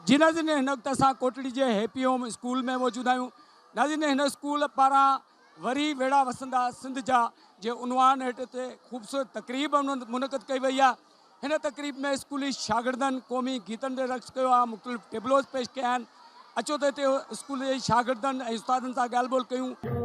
جي ناظرين هن وقت اسان ڪوٽڙي جي هيپي هوم اسڪول ۾ موجود آهيون ناظرين هن اسڪول پاران وري ويڙها وسندا سنڌ جا جي عنوان هيٺ هتي خوبصورت تقريب منعقد ڪئي وئي آهي هن تقريب ۾ اسڪولي شاگردن قومي گيتن تي رقص ڪيو آهي مختلف ٽيبلوز پيش ڪيا آهن اچو ته هتي اسڪول جي شاگردن ۽ استادن سان ڳالهه ٻولهه ڪيون.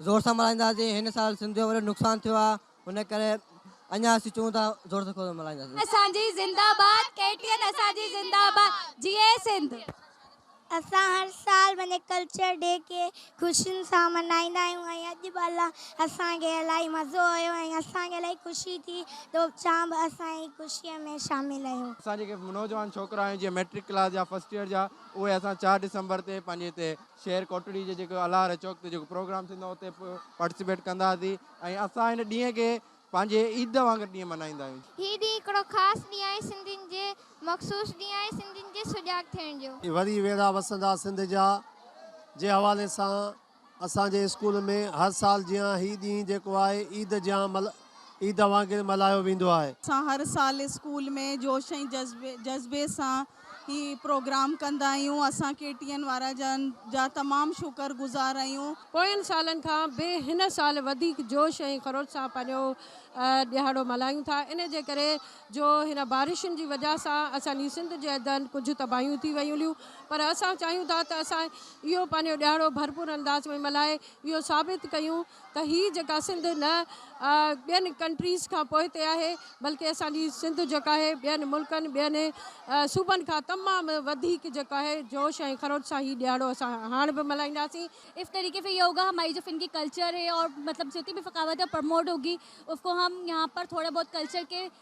زور سان ملهائينداسين هن سال سنڌ جو وڏو نقصان ٿيو آ ان ڪري اڃان اسين چون ٿا زور سان کول ملهائينداسين. اسان جي زنده باد ڪي ٽي اين اسان جي زنده باد جيئي سنڌ. اسان هر سال پنهنجي ڪلچر ڊي کي خوشين سان ملهائيندا آهيون ۽ اڄ به الا اسان کي الائي مزو آيو ۽ اسان کي الائي خوشي ٿي تو چان به اسان جي خوشي ۾ شامل آهيو. اسان جيڪي نوجوان ڇوڪرا آهيون جيئن ميٽرڪ ڪلاس جا فرسٽ ايئر جا اهي اسان چار ڊسمبر تي پنهنجي هتي شهر ڪوٽڙي جي جيڪو الهاره چوڪ تي جيڪو پروگرام ٿيندو آهي اتي پارٽيسپيٽ ڪنداسين ۽ اسان هن ڏينهن کي پنهنجي عيد وانگر ڏينهن ملهائيندا آهيون. هي ڏينهن هڪڙو خاص ڏينهن آهي سنڌين جي مخصوص ڏينهن آهي سنڌين جي سجاڳ ٿيڻ جو. وري ويڙها وسندا سنڌ جا جي حوالي سان اسان جي اسڪول ۾ هر سال جيان هي ڏينهن جيڪو آهي عيد جيان ملهايو عيد وانگر ملهايو ويندو آهي. اسان هر سال اسڪول ۾ جوش ۽ جذبي سان هي پروگرام ڪندا آهيون. اسان ڪي ٽي اين وارا جن جا تمام شڪر گذار آهيون. پوين سالن کان به هن سال وڌيڪ جوش ۽ خروش سان پنهنجو ڏهاڙو ملهايون ٿا ان جي ڪري جو هن بارشن جي وجهه سان اسان جي سنڌ جي اندر ڪجهه تباهيون ٿي ويون هليون پر اسان چاهيون ٿا ته اسان اهو پنهنجو ڏهاڙو ڀرپور انداز ۾ ملهائي اهو ثابت ڪيون ته هي جيڪا سنڌ نه ٻين ڪنٽريز کان پوئتي آهي بلڪه اسان جي سنڌ جيڪا آهي ٻين ملڪن ٻين صوبن کان تمام وڌيڪ جيڪو آهي جوش ۽ خروش سان هي ڏهاڙو اسان هاڻ به ملهائينداسين. اف طريقي في يوگا هماري جو فنڪي ڪلچر هي اور مطلب جتي به ثقافت پرموٽ هوگي اف ڪو هم يهان پر ٿوڙا بهت ڪلچر ڪي.